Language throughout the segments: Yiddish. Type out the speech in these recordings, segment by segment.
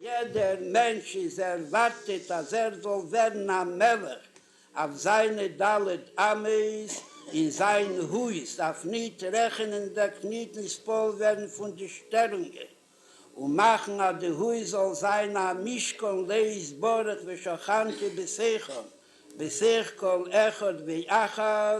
יעדער מענטש איז ערווארטעט אז ער זאל ווערן א מלך אויף זיינע ד' אמות אין זיין הויז, דארף ניט רעכענען דארף ניט נספּאָל ווערן פון די שטערונגען און מאכן אז די הויז זאל זיין א משכן להתברך ושכנתי בשיחם בשיח כל אחד ואחד.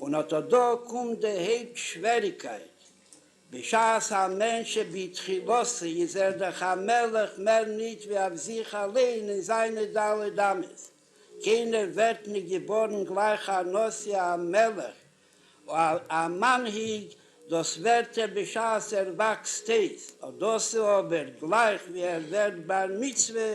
און אט אט דא קומט די הויפט שוועריקייט, בשעת א מענטש שבתחילתו איז ער דאך א מלך מער ניט ווי אויף זיך אליין און זיינע ד' אמות, קיינער ווערט ניט געבארן גלייך א נשיא א מלך א מנהיג, דאס ווערט ער בשעת ער וואקסט אויס, אט דאס איז אבער גלייך ווי ער ווערט בר מצוה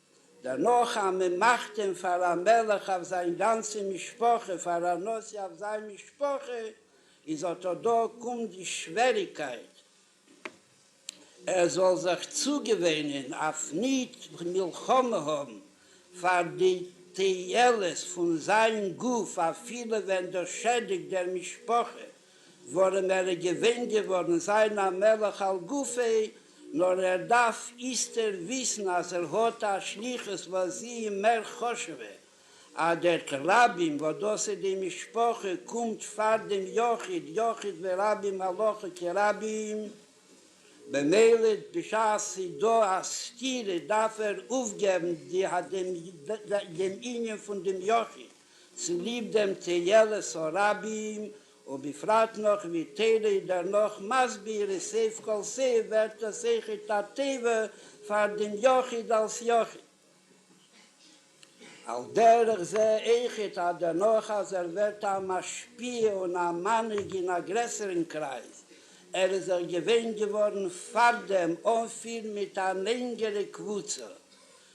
דערנאך אז מען מאכט אים פאר א מלך אויף זיין גאנצע משפחה, פאר א נשיא אויף זיין משפחה, איז אטא דא קומט די שוועריקייט, ער זאל זיך צוגעוואינען אויף ניט מלחמה האבן פאר די תועלת פון זיין גוף אפילו ווען דאס שעדיגט דער משפחה. ווארום ער איז געווען געווארן זיין א מלך על גופו, נאר ער דארף איסתר וויסן אז ער האט א שליחות וואס זי איז מער חשובע, אדער כרבים, וואס דאס איז די משפחה קומט פאר דעם יחיד, יחיד ורבים הלכה כרבים, במילא בשעת ס'איז דא א סתירה דארף ער אויפגעבן דעם ענין פון דעם יחיד. צוליב דעם תהלות הרבים, ובפרט נאך ווי תרע י דערנאך מסביר איז סעיף כל סעיף ווערט עס היכת הטבע פאר דעם יחיד אלס יחיד. על דרך זה היכת ה דערנאך אז ער ווערט א משפיע און א מנהיג אין א גרעסערן קרייז, ער איז זיך געווען געווארן פארדעם אנפיר מיט א לענגערע קבוצה,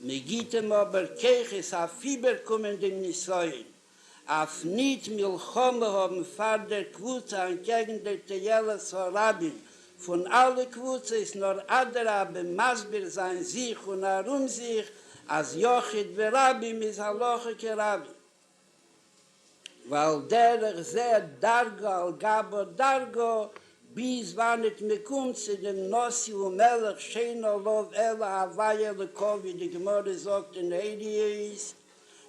מען גיט אים אבער כוחות אויף איבערקומען דעם נסיון, אויף ניט מלחמה האבן פאר דער קבוצה אנטקעגן דער תועלת הרבים פון אלע קבוצות, נאר אדרבה מסביר זיין זיך און ארום זיך אז יחיד ורבים איז הלכה כרבים. ועל דרך זה דרגא על גבא דרגא, ביז וואנעט מען קומט צו דעם נשיא ומלך שאין עליו אלא הווי אלוקו ווי די גמרא זאגט אין עדיות,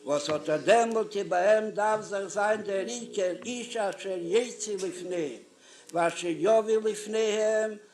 וואס אט אט דעמאלט איז ביי אים דארף זיך זיין דער עיקר איש אשר יצא לפניהם ואשר יביא לפניהם,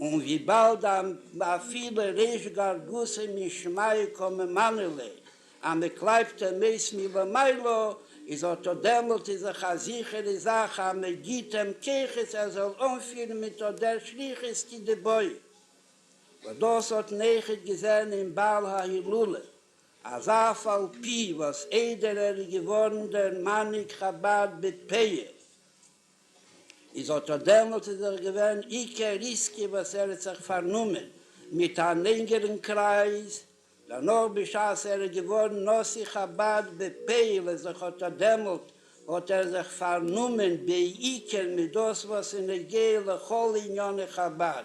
און וויבאלד אפילו ריש גר גסא מישמעיה קא ממענה ליה, אז מען קלייבט אים אויס מלמעלה, איז אטא דעמאלט איז דאך א זיכערע זאך אז מען גיט אים כוחות ער זאל אנפירן מיט אט דער שליחות כי דבעי. וואס דאס האט נעכעט געזען אין בעל ההילולא, אז אף על פי וואס איידער ער איז געווארן דער מנהיג חבד בפעיה, איז אָט אָ דעמאָלט איז דאָך געווען עיקר ריסקי וואָס ער האָט זיך פאַרנומען מיט אַן ענגערן קרייז. דערנאָך בשעת ער איז געוואָרן נשיא חבד בפעל איז אויך אָט אָ דעמאָלט האָט ער זיך פאַרנומען בעיקר מיט דאָס וואָס איז נוגע לכל עניני חבד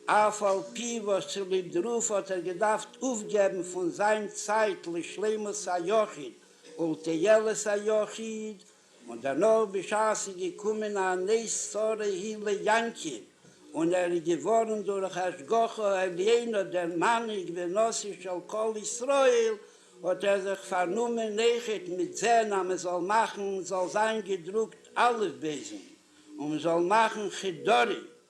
אף על פי וואָס צוליב דערויף האָט ער געדאַרפט אָפּגעבן פון זיין צייט לשלימות היחיד ולתועלת היחיד און דערנאך בשעת איז געקומען א נס צרה הי ל יעקב און ער איז געווארן דורך השגחה העליונה דער מנהיג ונשיא של כל ישראל, האט ער זיך פארנומען נעכעט מיט זען אז מען זאל מאכן זאל זיין געדרוקט אלף בעת'ן און מען זאל מאכן חדרים.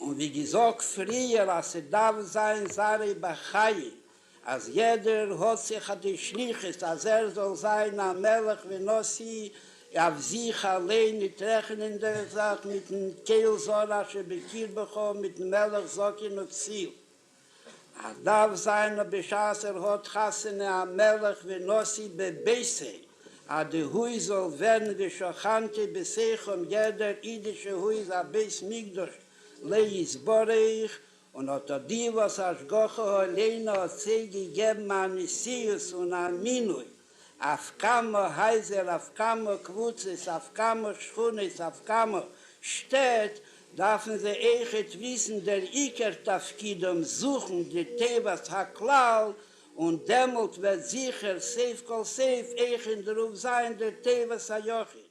און ווי געזאגט פריער אז ס'דארף זיין זרע בחיים אז יעדער האט זיך אט די שליחות אז ער זאל זיין א מלך ונשיא אויף זיך אליין ניט רעכענענדיך זיך מיטן קהל זרע שבקרבך מיטן מלך זקן וכסיל. ער דארף זיין נאר בשעת ער האט חתונה א מלך ונשיא בביתו, אז די הויז זאל ווערן ווי שכנתי בשיחום יעדער אידישע הויז א בית מקדש לע יתברך, און אט אט די וואס השגחה העליונה האט זיי געגעבן א נשיאות און א מינוי. אויף כמה הייזער, אויף כמה קבוצות, אויף כמה שכונות, אויף כמה שטעט, דארפן זיי אויכעט וויסן דער עיקר תפקידם, זוכן די טובת הכלל, און דעמאלט וועט זיכער סוף כל סוף אויך אין דערויף זיין דער טובת היחיד.